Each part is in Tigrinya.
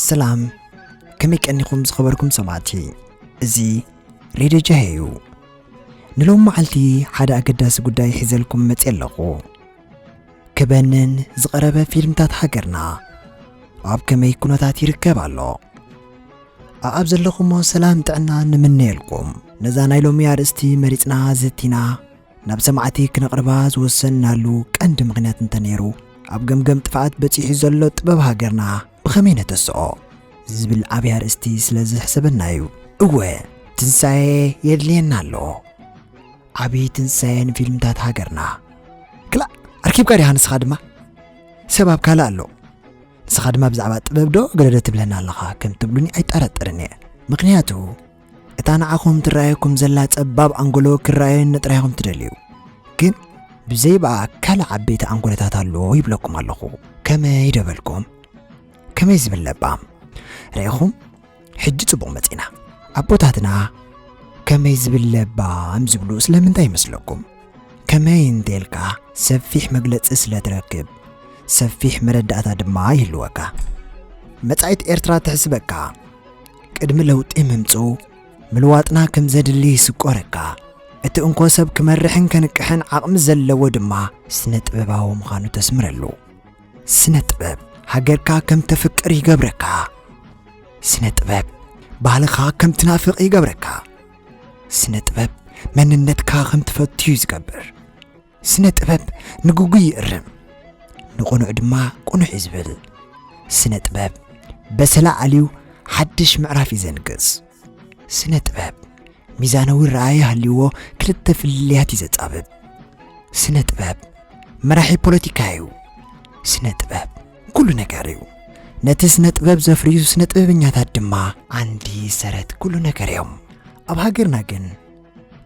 ሰላም ከመይ ቀኒኹም ዝኸበርኩም ሰማዕቲ እዚ ሬድዮ ጀሄ እዩ ንሎም መዓልቲ ሓደ ኣገዳሲ ጉዳይ ሒዘልኩም መፅ ኣለኹ ክበንን ዝቐረበ ፊልምታት ሃገርና ኣብ ከመይ ኩነታት ይርከብ ኣሎ ኣኣብ ዘለኹሞ ሰላም ጥዕና ንምነየልኩም ነዛ ናይ ሎሚ ኣርእስቲ መሪፅና ዘቲና ናብ ሰማዕቲ ክነቕርባ ዝወሰንናሉ ቀንዲ ምኽንያት እንተነይሩ ኣብ ገምገም ጥፍኣት በጺሑ ዘሎ ጥበብ ሃገርና ብኸመይ ነተስኦ ዝብል ዓብይ ኣርእስቲ ስለ ዝሕሰበና እዩ እወ ትንሳኤ የድልየና ኣሎ ዓብዪ ትንሳኤ ንፊልምታት ሃገርና ክላእ ኣርኪብካ ዲኻ ንስኻ ድማ ሰብ ኣብ ካልእ ኣሎ ንስኻ ድማ ብዛዕባ ጥበብ ዶ ገለዶ ትብለና ኣለኻ ከም ትብሉኒ ኣይጠረጥርን እየ ምክንያቱ እታ ንዓኹም ትረኣየኩም ዘላ ጸባብ ኣንጎሎ ክረኣየኒ ጥራይ ኢኹም ትደልዩ ግን ብዘይ ብኣ ካልእ ዓበይቲ ኣንጎሎታት ኣሎ ይብለኩም ኣለኹ ከመይ ደበልኩም ከመይ ዝብል ለባም ርኢኹም ሕጂ ጽቡቕ መጺና ኣቦታትና ከመይ ዝብል ለባም ዝብሉ ስለምንታይ ይመስለኩም ከመይ እንተልካ ሰፊሕ መግለጺ ስለ ትረክብ ሰፊሕ መረዳእታ ድማ ይህልወካ መጻኢት ኤርትራ ትሕስበካ ቅድሚ ለውጢ ምምጽኡ ምልዋጥና ከም ዘድሊ ይስቆረካ። እቲ እንኮ ሰብ ክመርሕን ከንቅሕን ዓቕሚ ዘለዎ ድማ ስነ ጥበባዊ ምዃኑ ተስምረሉ። ስነ ጥበብ ሃገርካ ከም ተፍቅር ይገብረካ። ስነ ጥበብ ባህልኻ ከም ትናፍቕ ይገብረካ። ስነ ጥበብ መንነትካ ከም ትፈቱ እዩ ዝገብር። ስነ ጥበብ ንግጉይ ይእርም ንቕኑዕ ድማ ቅኑዕ እዩ ዝብል ስነ ጥበብ በሰላ ኣልዩ ሓድሽ ምዕራፍ እዩ ዘንግስ ስነ ጥበብ ሚዛናዊ ረኣየ ሃልይዎ ክልተ ፍልልያት እዩ ዘጻብብ ስነ ጥበብ መራሒ ፖለቲካ እዩ ስነ ጥበብ ኩሉ ነገር እዩ ነቲ ስነ ጥበብ ዘፍርዩ ስነ ጥበበኛታት ድማ ዓንዲ ሰረት ኩሉ ነገር እዮም ኣብ ሃገርና ግን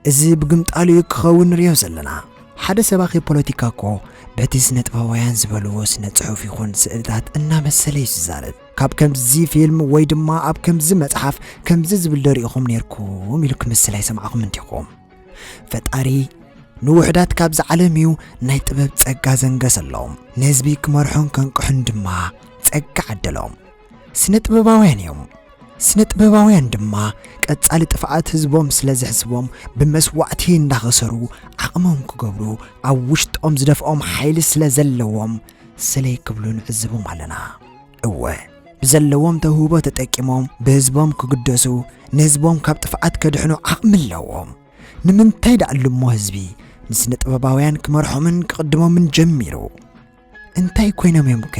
እዚ ብግምጣሉ እዩ ክኸውን ንሪኦ ዘለና። ሓደ ሰባኺ ፖለቲካ እኮ በቲ ስነ ጥበባውያን ዝበልዎ ስነ ጽሑፍ ይኹን ስእልታት እናመሰለ እዩ ዝዛረብ። ካብ ከምዚ ፊልም ወይ ድማ ኣብ ከምዚ መጽሓፍ ከምዚ ዝብል ዶ ሪኢኹም ኔርኩም ኢሉ ክምስል ኣይሰማዕኹምን ዲኹም? ፈጣሪ ንውሑዳት ካብዚ ዓለም እዩ ናይ ጥበብ ጸጋ ዘንገሰሎም፣ ንህዝቢ ክመርሑን ከንቅሑን ድማ ጸጋ ዓደሎም። ስነ ጥበባውያን እዮም። ስነ ጥበባውያን ድማ ቀጻሊ ጥፍኣት ህዝቦም ስለ ዘሕስቦም ብመስዋእቲ እንዳኸሰሩ ዓቕሞም ክገብሩ ኣብ ውሽጦም ዝደፍኦም ሓይሊ ስለ ዘለዎም ሰለይ ክብሉ ንዕዝቦም ኣለና። እወ ብዘለዎም ተውህቦ ተጠቂሞም ብህዝቦም ክግደሱ ንህዝቦም ካብ ጥፍኣት ከድሕኑ ዓቕሚ ኣለዎም። ንምንታይ ደኣሉሞ ህዝቢ ንስነ ጥበባውያን ክመርሖምን ክቕድሞምን ጀሚሩ? እንታይ ኮይኖም እዮም ከ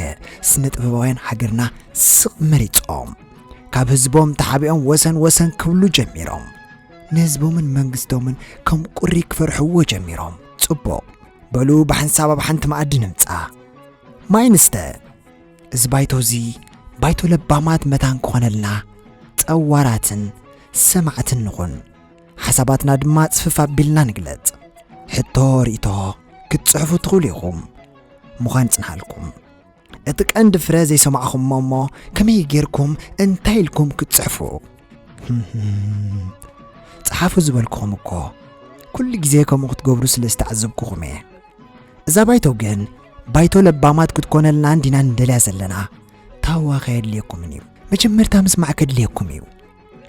ስነ ጥበባውያን ሃገርና ስቕ መሪጾም ካብ ህዝቦም ተሓቢኦም ወሰን ወሰን ክብሉ ጀሚሮም ንህዝቦምን መንግስቶምን ከም ቁሪ ክፈርሕዎ ጀሚሮም ጽቡቕ በሉ ብሓንሳብ ኣብ ሓንቲ መኣዲ ንምጻ ማይ ንስተ እዚ ባይቶ እዚ ባይቶ ለባማት መታን ክኾነልና ጸዋራትን ሰማዕትን ንኹን ሓሳባትና ድማ ጽፍፍ ኣቢልና ንግለጽ። ሕቶ ርእቶ ክትጽሕፉ ትኽእሉ ኢኹም። ምዃን ጽንሃልኩም እቲ ቀንዲ ፍረ ዘይሰማዕኹም እሞ ከመይ ጌርኩም እንታይ ኢልኩም ክትጽሕፉ ጸሓፉ ዝበልኩኹም እኮ ኩሉ ግዜ ከምኡ ክትገብሩ ስለ ዝተዓዘብኩኹም እየ እዛ ባይቶ ግን ባይቶ ለባማት ክትኮነልና እንዲና ንደልያ ዘለና ታዋኸ የድልየኩምን እዩ መጀመርታ ምስማዕ ከድልየኩም እዩ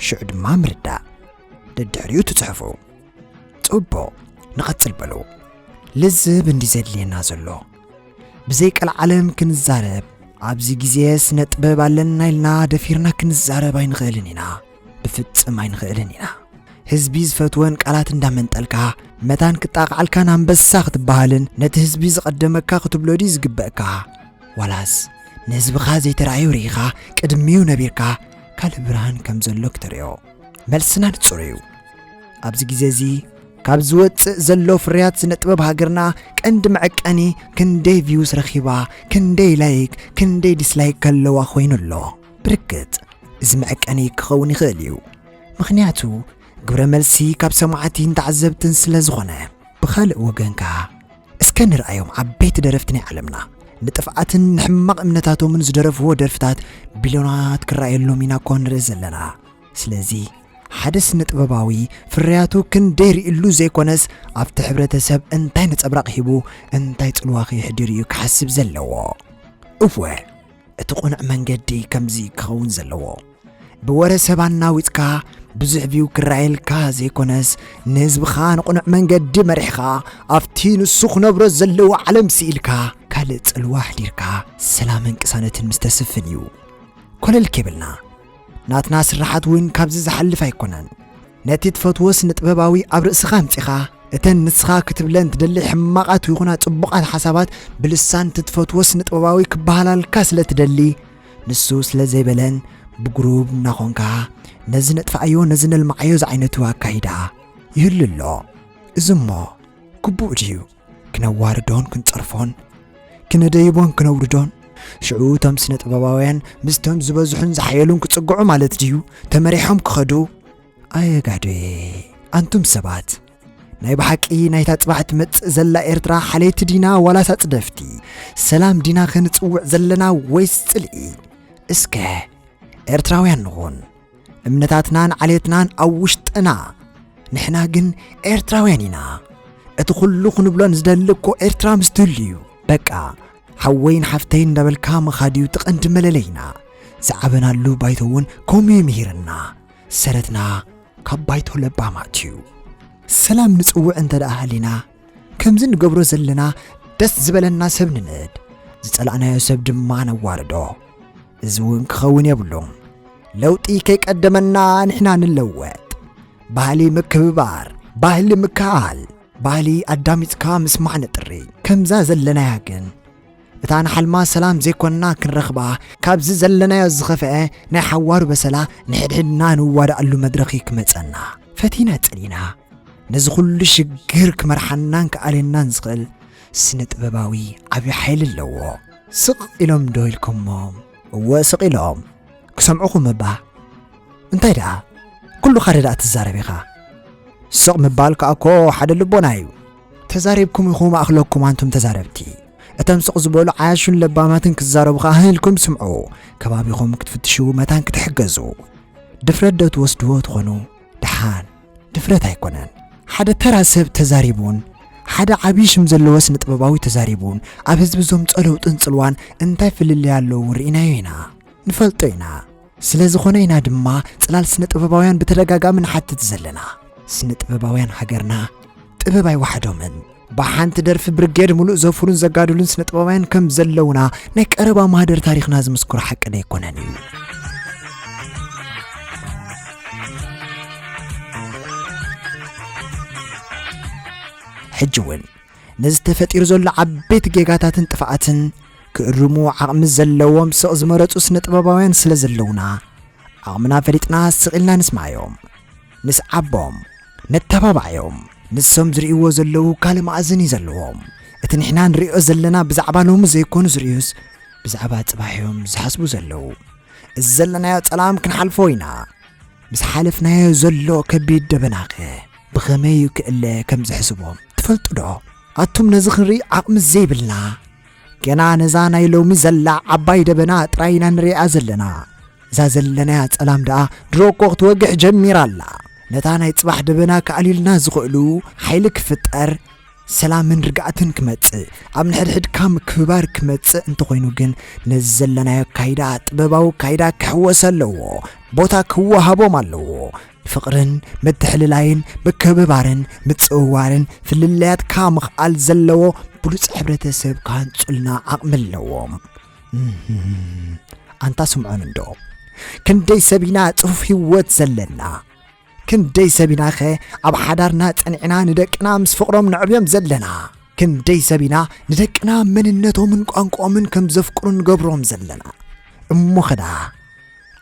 ሽዑ ድማ ምርዳእ ደድሕሪኡ ትጽሕፉ ጽቡቕ ንቐጽል በሉ ልዝብ እንዲ ዘድልየና ዘሎ ብዘይ ቀልዓለም ክንዛረብ ኣብዚ ግዜ ስነ ጥበብ ኣለና ኢልና ደፊርና ክንዛረብ ኣይንኽእልን ኢና ብፍጽም ኣይንኽእልን ኢና ህዝቢ ዝፈትወን ቃላት እንዳመንጠልካ መታን ክጣቕዓልካን ኣንበሳ ክትበሃልን ነቲ ህዝቢ ዝቐደመካ ክትብሎ ድዩ ዝግበእካ ዋላስ ንህዝብኻ ዘይተረኣዩ ርኢኻ ቅድሚኡ ነቢርካ ካልእ ብርሃን ከም ዘሎ ክተርእዮ መልስና ንጹር እዩ። ኣብዚ ግዜ እዚ ካብ ዝወጽእ ዘሎ ፍርያት ስነ ጥበብ ሃገርና ቀንዲ መዐቀኒ ክንደይ ቪውስ ረኺባ ክንደይ ላይክ ክንደይ ዲስላይክ ከለዋ ኮይኑ ኣሎ ብርግጽ እዚ መዐቀኒ ክኸውን ይኽእል እዩ ምኽንያቱ ግብረ መልሲ ካብ ሰማዕቲን ተዓዘብትን ስለ ዝኾነ ብኻልእ ወገንካ እስከ ንርኣዮም ዓበይቲ ደረፍቲ ናይ ዓለምና ንጥፍኣትን ንሕማቕ እምነታቶምን ዝደረፍዎ ደርፍታት ቢልዮናት ክረኣየሎም ኢና እኮ ንርኢ ዘለና። ስለዚ ሓደ ስነ ጥበባዊ ፍርያቱ ክንደይ ርእሉ ዘይኮነስ ኣብቲ ሕብረተሰብ እንታይ ነጸብራቕ ሂቡ እንታይ ጽልዋ ከየሕድር እዩ ክሓስብ ዘለዎ። እወ! እቲ ቁኑዕ መንገዲ ከምዚ ክኸውን ዘለዎ ብወረ ሰብ ኣናዊጽካ ብዙሕ ቪው ክረኣየልካ ዘይኮነስ ንህዝብኻ ንቕኑዕ መንገዲ መሪሕኻ ኣብቲ ንሱ ክነብሮ ዘለዎ ዓለም ስኢልካ ካልእ ጽልዋ ኣሕዲርካ ሰላምን ቅሳነትን ምስ ተስፍን እዩ ኮለል ኬብልና ናትና ስራሓት እውን ካብዚ ዝሓልፍ ኣይኮነን ነቲ ትፈትዎ ስነጥበባዊ ኣብ ርእስኻ ኣምጺኻ እተን ንስኻ ክትብለን ትደሊ ሕማቓት ይኹና ጽቡቓት ሓሳባት ብልሳን እቲ ትፈትዎ ስነጥበባዊ ክበሃላልካ ስለ ትደሊ ንሱ ስለ ዘይበለን ብግሩብ እናኾንካ ነዚ ነጥፍኣዮ ነዚ ነልማዓዮ ዝዓይነቱ ኣካይዳ ይህሉ ኣሎ እዚ እሞ ግቡእ ድዩ ክነዋርዶን ክንጸርፎን ክነደይቦን ክነውርዶን ሽዑ እቶም ስነ ጥበባውያን ምስቶም ዝበዝሑን ዝሓየሉን ክጽግዑ ማለት ድዩ ተመሪሖም ክኸዱ ኣየጋዶየ ኣንቱም ሰባት ናይ ብሓቂ ናይታ ጽባሕ ትመጽእ ዘላ ኤርትራ ሓለይቲ ዲና ዋላስ ኣጽደፍቲ ሰላም ዲና ክንጽውዕ ዘለና ወይስ ጽልኢ እስከ ኤርትራውያን ንኹን እምነታትናን ዓሌትናን ኣብ ውሽጥና ንሕና ግን ኤርትራውያን ኢና እቲ ኩሉ ክንብሎን ዝደሊ እኮ ኤርትራ ምስ ትህሉ እዩ በቃ ሓወይን ሓፍተይን እንዳበልካ ምኻድ እዩ እቲ ቀንዲ መለለይና ዝዓበናሉ ባይቶ እውን ከምኡ እዩ ምሂርና ሰረትና ካብ ባይቶ ለባማት እዩ ሰላም ንጽውዕ እንተ ደኣ ሃሊና ከምዚ ንገብሮ ዘለና ደስ ዝበለና ሰብ ንንእድ ዝጸላእናዮ ሰብ ድማ ነዋርዶ እዚ እውን ክኸውን የብሉን። ለውጢ ከይቀደመና ንሕና ንለወጥ። ባህሊ ምክብባር፣ ባህሊ ምክኣል፣ ባህሊ ኣዳሚፅካ ምስማዕ ንጥሪ። ከምዛ ዘለናያ ግን እታ ንሓልማ ሰላም ዘይኮንና ክንረኽባ ካብዚ ዘለናዮ ዝኸፍአ ናይ ሓዋሩ በሰላ ንሕድሕድና ንዋዳኣሉ መድረኽ እዩ ክመፀና ፈቲና ፀሊና ነዚ ኩሉ ሽግር ክመርሓናን ክኣልየናን ዝኽእል ስነ ጥበባዊ ዓብዪ ሓይሊ ኣለዎ። ስቕ ኢሎም ዶ ኢልኩሞም? እወ ስቕ ኢሎም። ክሰምዑኹም እባ። እንታይ ደኣ ኩሉ ካደ ደኣ ትዛረብ ኢኻ? ስቕ ምባል ከኣ እኮ ሓደ ልቦና እዩ። ተዛሪብኩም ኢኹም ኣኽለኩም ኣንቱም ተዛረብቲ። እቶም ስቕ ዝበሉ ዓያሹን ለባማትን ክዛረቡ ከኣ ህህ ኢልኩም ስምዑ። ከባቢኹም ክትፍትሹ መታን ክትሕገዙ ድፍረት ዶ ትወስድዎ ትኾኑ? ደሓን። ድፍረት ኣይኮነን ሓደ ተራ ሰብ ተዛሪቡን ሓደ ዓብዪ ሽም ዘለዎ ስነ ጥበባዊ ተዛሪቡን ኣብ ህዝቢ እዞም ጸለውጥን ጽልዋን እንታይ ፍልልይ ኣለዉ ርኢናዮ ኢና ንፈልጦ ኢና ስለ ዝኾነ ኢና ድማ ጽላል ስነ ጥበባውያን ብተደጋጋሚ ንሓትት ዘለና ስነ ጥበባውያን ሃገርና ጥበብ ኣይወሓዶምን ብሓንቲ ደርፊ ብርጌድ ሙሉእ ዘፍሩን ዘጋድሉን ስነ ጥበባውያን ከም ዘለውና ናይ ቀረባ ማህደር ታሪኽና ዝምስክሮ ሓቂ ደይኮነን እዩ ሕጂ እውን ነዚ ተፈጢሩ ዘሎ ዓበይቲ ጌጋታትን ጥፍኣትን ክእርሙ ዓቕሚ ዘለዎም ስቕ ዝመረፁ ስነ ጥበባውያን ስለ ዘለውና ዓቕምና ፈሊጥና ስቕ ኢልና ንስማዮም ምስ ዓቦም ነተባብዓዮም ንሶም ዝርእይዎ ዘለዉ ካልእ ማእዝን እዩ ዘለዎም እቲ ንሕና ንርእዮ ዘለና ብዛዕባ ሎሚ ዘይኮኑ ዝርእዩስ ብዛዕባ ጽባሕ እዮም ዝሓስቡ ዘለዉ እዚ ዘለናዮ ጸላም ክንሓልፎ ኢና ምስ ሓለፍናዮ ዘሎ ከቢድ ደበናኸ ብኸመይ ክእለ ከም ዝሕስቦም ትፈልጡዶ ኣቱም ነዚ ክንርኢ ዓቕሚ ዘይብልና ገና ነዛ ናይ ሎሚ ዘላ ዓባይ ደበና ጥራይ ኢና ንሪኣ ዘለና እዛ ዘለናያ ጸላም ደኣ ድሮ እኮ ክትወግሕ ጀሚራ ኣላ ነታ ናይ ጽባሕ ደበና ክኣልዩልና ዝኽእሉ ሓይሊ ክፍጠር ሰላምን ርግኣትን ክመጽእ ኣብ ንሕድሕድካ ምክብባር ክመጽእ እንተኾይኑ ግን ነዚ ዘለናዮ ኣካይዳ ጥበባዊ ኣካይዳ ክሕወሰ ኣለዎ ቦታ ክወሃቦም ኣለዎ ፍቕርን ምትሕልላይን ምክብባርን ምጽውዋርን ፍልልያትካ ምኽኣል ዘለዎ ብሉጽ ሕብረተሰብ ክሃንጹልና ዓቕሚ ኣለዎም ኣንታ ስምዖን እንዶ ክንደይ ሰብ ኢና ጽፉፍ ህይወት ዘለና ክንደይ ሰብ ኢና ኸ ኣብ ሓዳርና ጸኒዕና ንደቅና ምስ ፍቕሮም ነዕብዮም ዘለና ክንደይ ሰብ ኢና ንደቅና መንነቶምን ቋንቋኦምን ከም ዘፍቅሩ ንገብሮም ዘለና እሞ ኸዳ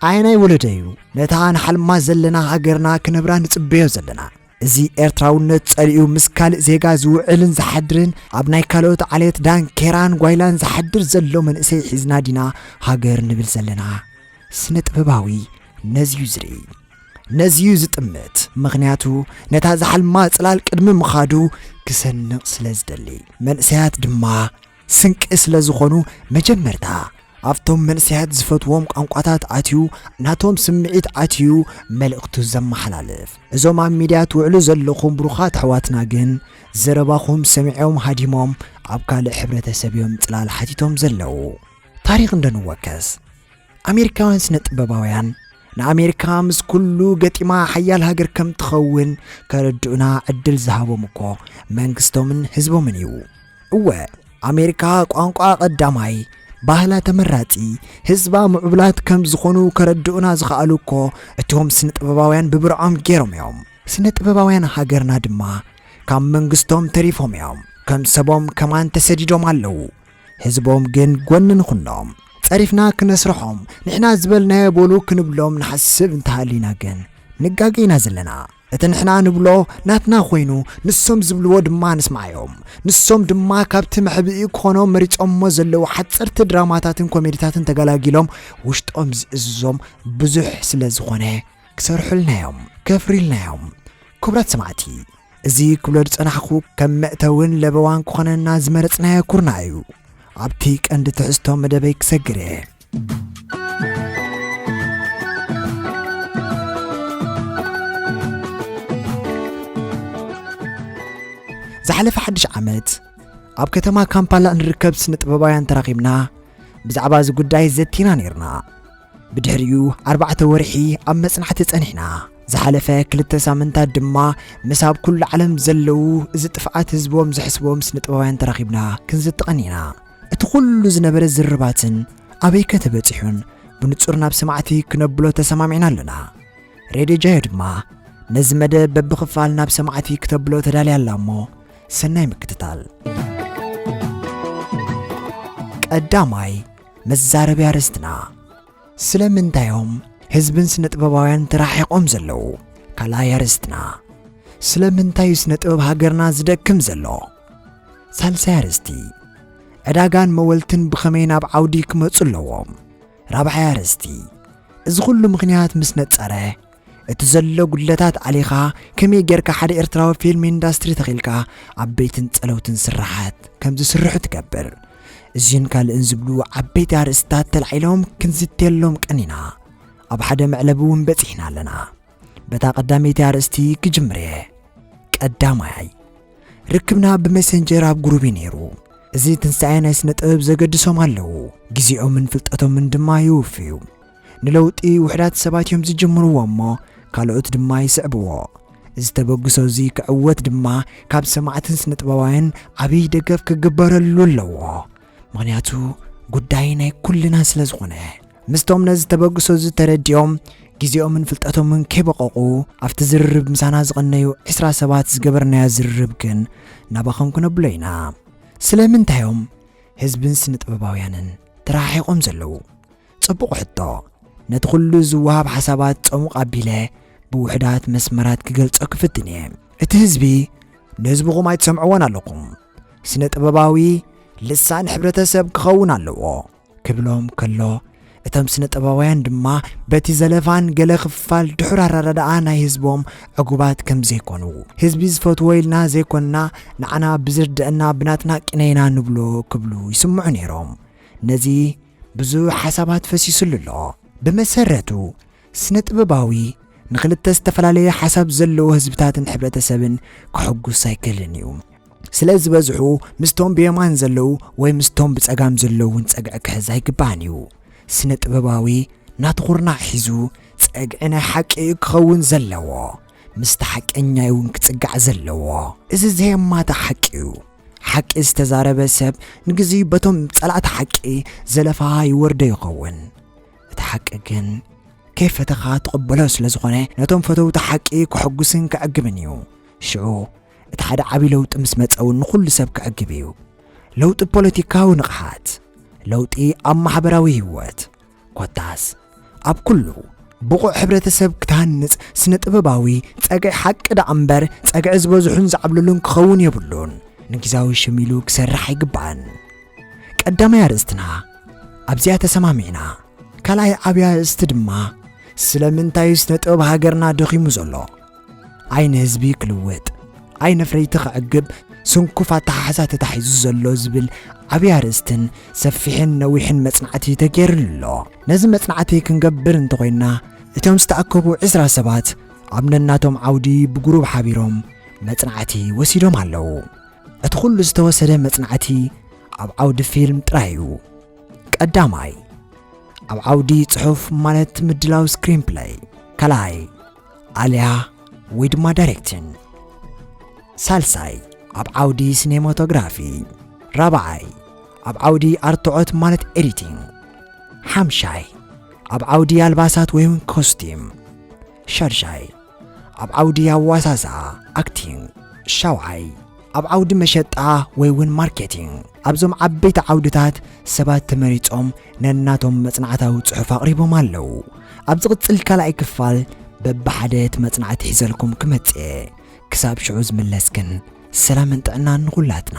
ኣየናይ ወለደ እዩ ነታ ንሓልማ ዘለና ሃገርና ክነብራ ንጽበዮ ዘለና? እዚ ኤርትራውነት ጸሊኡ ምስ ካልእ ዜጋ ዝውዕልን ዝሓድርን ኣብ ናይ ካልኦት ዓሌት ዳንኬራን ጓይላን ዝሓድር ዘሎ መንእሰይ ሒዝና ዲና ሃገር ንብል ዘለና? ስነ ጥበባዊ ነዚዩ ዝርኢ ነዚዩ ዝጥምት ምኽንያቱ ነታ ዝሓልማ ጽላል ቅድሚ ምኻዱ ክሰንቕ ስለ ዝደሊ መንእሰያት ድማ ስንቂ ስለ ዝኾኑ መጀመርታ ኣብቶም መንእሰያት ዝፈትዎም ቋንቋታት ኣትዩ ናቶም ስምዒት ኣትዩ መልእኽቱ ዘመሓላልፍ። እዞም ኣብ ሚድያ ትውዕሉ ዘለኹም ብሩኻት ኣሕዋትና ግን ዘረባኹም ሰሚዖም ሃዲሞም ኣብ ካልእ ሕብረተሰብ እዮም ጽላል ሓቲቶም ዘለዉ። ታሪኽ እንዶ ንወከስ። ኣሜሪካውያን ስነ ጥበባውያን ንኣሜሪካ ምስ ኩሉ ገጢማ ሓያል ሃገር ከም ትኸውን ከረድኡና ዕድል ዝሃቦም እኮ መንግስቶምን ህዝቦምን እዩ። እወ ኣሜሪካ ቋንቋ ቀዳማይ ባህላ ተመራጺ ህዝባ ምዕቡላት ከም ዝኾኑ ከረድኡና ዝኸኣሉ እኮ እቶም ስነ ጥበባውያን ብብርዖም ገይሮም እዮም። ስነ ጥበባውያን ሃገርና ድማ ካብ መንግስቶም ተሪፎም እዮም ከም ሰቦም ከማን ተሰዲዶም ኣለዉ። ህዝቦም ግን ጎኒ ንኹኖም። ጸሪፍና ክነስርሖም ንሕና ዝበልናዮ በሉ ክንብሎም ንሓስብ እንተሃሊና ግን ንጋገ ኢና ዘለና። እቲ ንሕና ንብሎ ናትና ኮይኑ ንሶም ዝብልዎ ድማ ንስምዓዮም። ንሶም ድማ ካብቲ መሕብኢ ክኾኖም መሪጾሞ ዘለዉ ሓጸርቲ ድራማታትን ኮሜዲታትን ተገላጊሎም ውሽጦም ዝእዝዞም ብዙሕ ስለ ዝኾነ ክሰርሑልናዮም። ከፍሪልናዮም። ክቡራት ሰማዕቲ! እዚ ክብሎ ዝጸናሕኩ ከም መእተውን ለበዋን ክኾነና ዝመረጽናዮ ኩርናዕ እዩ። ኣብቲ ቀንዲ ትሕዝቶ መደበይ ክሰግር እየ። ዝሓለፈ ሓድሽ ዓመት ኣብ ከተማ ካምፓላ እንርከብ ስነ ጥበባውያን ተራኺብና ብዛዕባ እዚ ጉዳይ ዘቲና ነይርና። ብድሕሪኡ ኣርባዕተ ወርሒ ኣብ መጽናዕቲ ጸኒሕና። ዝሓለፈ ክልተ ሳምንታት ድማ ምስ ኣብ ኩሉ ዓለም ዘለዉ እዚ ጥፍኣት ህዝቦም ዝሕስቦም ስነጥበባውያን ተራኺብና ክንዝቲ ቀኒና። እቲ ኩሉ ዝነበረ ዝርርባትን ኣበይከ ተበጺሑን ብንጹር ናብ ሰማዕቲ ክነብሎ ተሰማሚዕና ኣለና። ሬድዮ ጃዮ ድማ ነዚ መደብ በብኽፋል ናብ ሰማዕቲ ክተብሎ ተዳልያ ኣላ እሞ ሰናይ ምክትታል። ቀዳማይ መዛረቢ ኣርእስትና ስለምንታዮም ህዝብን ስነ ጥበባውያን ተራሒቖም ዘለዉ? ካልኣይ ኣርእስትና ስለምንታይ እዩ ስነ ጥበብ ሃገርና ዝደክም ዘሎ? ሳልሳይ ኣርእስቲ ዕዳጋን መወልትን ብኸመይ ናብ ዓውዲ ክመጹ ኣለዎም? ራብዓይ ኣርእስቲ እዚ ኹሉ ምኽንያት ምስ ነጸረ እቲ ዘሎ ጉድለታት ኣሊኻ ከመይ ጌርካ ሓደ ኤርትራዊ ፊልም ኢንዳስትሪ ተኺልካ ዓበይትን ጸለውትን ስርሓት ከም ዝስርሑ ትገብር እዚን ካልእን ዝብሉ ዓበይቲ ኣርእስታት ተላዒሎም ክንዝትየሎም ቀኒና ኣብ ሓደ መዕለቢ እውን በጺሕና ኣለና በታ ቀዳመይቲ ኣርእስቲ ክጅምር እየ ቀዳማይ ርክብና ብመሰንጀር ኣብ ጉሩብ ነይሩ እዚ ትንሳኤ ናይ ስነ ጥበብ ዘገድሶም ኣለዉ ግዜኦምን ፍልጠቶምን ድማ ይውፍዩ ንለውጢ ውሕዳት ሰባት እዮም ዝጅምርዎ እሞ ካልኦት ድማ ይስዕብዎ። እዚ ተበግሶ እዚ ክዕወት ድማ ካብ ሰማዕትን ስነጥበባውያን ዓብይ ደገፍ ክግበረሉ ኣለዎ። ምክንያቱ ጉዳይ ናይ ኩልና ስለ ዝኾነ። ምስቶም ነዚ ተበግሶ እዚ ተረዲኦም ግዜኦምን ፍልጠቶምን ከይበቐቑ ኣብቲ ዝርርብ ምሳና ዝቐነዩ ዕስራ ሰባት ዝገበርናዮ ዝርርብ ግን ናባኸም ክነብሎ ኢና። ስለምንታይ እዮም ህዝብን ስነጥበባውያንን ተረሓሒቖም ዘለዉ? ጽቡቕ ሕቶ። ነቲ ኹሉ ዝወሃብ ሓሳባት ጸሙቕ ኣቢለ ብውሑዳት መስመራት ክገልጾ ክፍትን እየ። እቲ ህዝቢ ንህዝብኹም ኣይትሰምዕዎን ኣለኹም፣ ስነ ጥበባዊ ልሳን ሕብረተሰብ ክኸውን ኣለዎ ክብሎም ከሎ እቶም ስነ ጥበባውያን ድማ በቲ ዘለፋን ገለ ክፋል ድሑር ኣረዳድኣ ናይ ህዝቦም ዕጉባት ከም ዘይኮኑ ህዝቢ ዝፈትዎ ኢልና ዘይኮንና ንዓና ብዝርድአና ብናትና ቅነይና ንብሎ ክብሉ ይስምዑ ነይሮም ነዚ ብዙሕ ሓሳባት ፈሲስሉ ኣሎ። ብመሰረቱ ስነ-ጥበባዊ ንክልተ ዝተፈላለየ ሓሳብ ዘለዎ ህዝብታትን ሕብረተሰብን ከሕጉስ ኣይክእልን እዩ። ስለ ዝበዝሑ ምስቶም ብየማን ዘለዉ ወይ ምስቶም ብጸጋም ዘለዉን ጸግዒ ክሕዝ ኣይግባእን እዩ። ስነ-ጥበባዊ ናቱ ኩርናዕ ሒዙ ጸግዒ ናይ ሓቂ እዩ ክኸውን ዘለዎ። ምስቲ ሓቀኛ እዩውን ክጽጋዕ ዘለዎ። እዚ ዘየማትእ ሓቂ እዩ። ሓቂ ዝተዛረበ ሰብ ንግዜኡ በቶም ጸላእቲ ሓቂ ዘለፋ ይወርዶ ይኸውን እቲ ሓቂ ግን ከይፈተኻ ትቕበሎ ስለ ዝኾነ ነቶም ፈተውቲ ሓቂ ክሕጉስን ክዕግብን እዩ ሽዑ እቲ ሓደ ዓብዪ ለውጢ ምስ መጸ እውን ንኹሉ ሰብ ክዕግብ እዩ ለውጢ ፖለቲካዊ ንቕሓት ለውጢ ኣብ ማሕበራዊ ህይወት ኮታስ ኣብ ኩሉ ብቑዕ ሕብረተሰብ ክትሃንጽ ስነ ጥበባዊ ጸግዒ ሓቂ ደኣ እምበር ጸግዒ ዝበዝሑን ዝዓብልሉን ክኸውን የብሉን። ንግዛዊ ሽም ኢሉ ክሰርሕ ኣይግባእን። ቀዳማይ ኣርእስትና ኣብዚኣ ተሰማሚዕና። ካልኣይ ዓብያ ኣርእስቲ ድማ ስለምንታይ ስነ ጥበብ ሃገርና ደኺሙ ዘሎ ዓይኒ ህዝቢ ክልወጥ ዓይኒ ፍረይቲ ክዕግብ ስንኩፍ ኣተሓሕዛ ተታሒዙ ዘሎ ዝብል ዓብዪ ኣርእስትን ሰፊሕን ነዊሕን መጽናዕቲ ተገይሩሉ ኣሎ ነዚ መጽናዕቲ ክንገብር እንተኾይንና እቶም ዝተኣከቡ ዕስራ ሰባት ኣብ ነናቶም ዓውዲ ብጉሩብ ሓቢሮም መጽናዕቲ ወሲዶም ኣለዉ እቲ ዅሉ ዝተወሰደ መጽናዕቲ ኣብ ዓውዲ ፊልም ጥራይ እዩ ቀዳማይ ኣብ ዓውዲ ጽሑፍ ማለት ምድላው ስክሪን ፕለይ ካልኣይ ኣልያ ወይ ድማ ዳይሬክትን ሳልሳይ ኣብ ዓውዲ ሲኔማቶግራፊ ራብዓይ ኣብ ዓውዲ ኣርትዖት ማለት ኤዲቲንግ ሓምሻይ ኣብ ዓውዲ ኣልባሳት ወይ እውን ኮስቲም ሻድሻይ ኣብ ዓውዲ ኣዋሳስኣ ኣክቲንግ ሻውዓይ ኣብ ዓውዲ መሸጣ ወይ ውን ማርኬቲንግ ኣብዞም ዓበይቲ ዓውድታት ሰባት ተመሪጾም ነናቶም መጽናዕታዊ ጽሑፍ ኣቕሪቦም ኣለዉ። ኣብ ዝቕጽል ካልኣይ ክፋል በብሓደ እቲ መጽናዕቲ ሒዘልኩም ክመጽእ እየ። ክሳብ ሽዑ ዝምለስ ግን ሰላምን ጥዕናን ንኹላትና።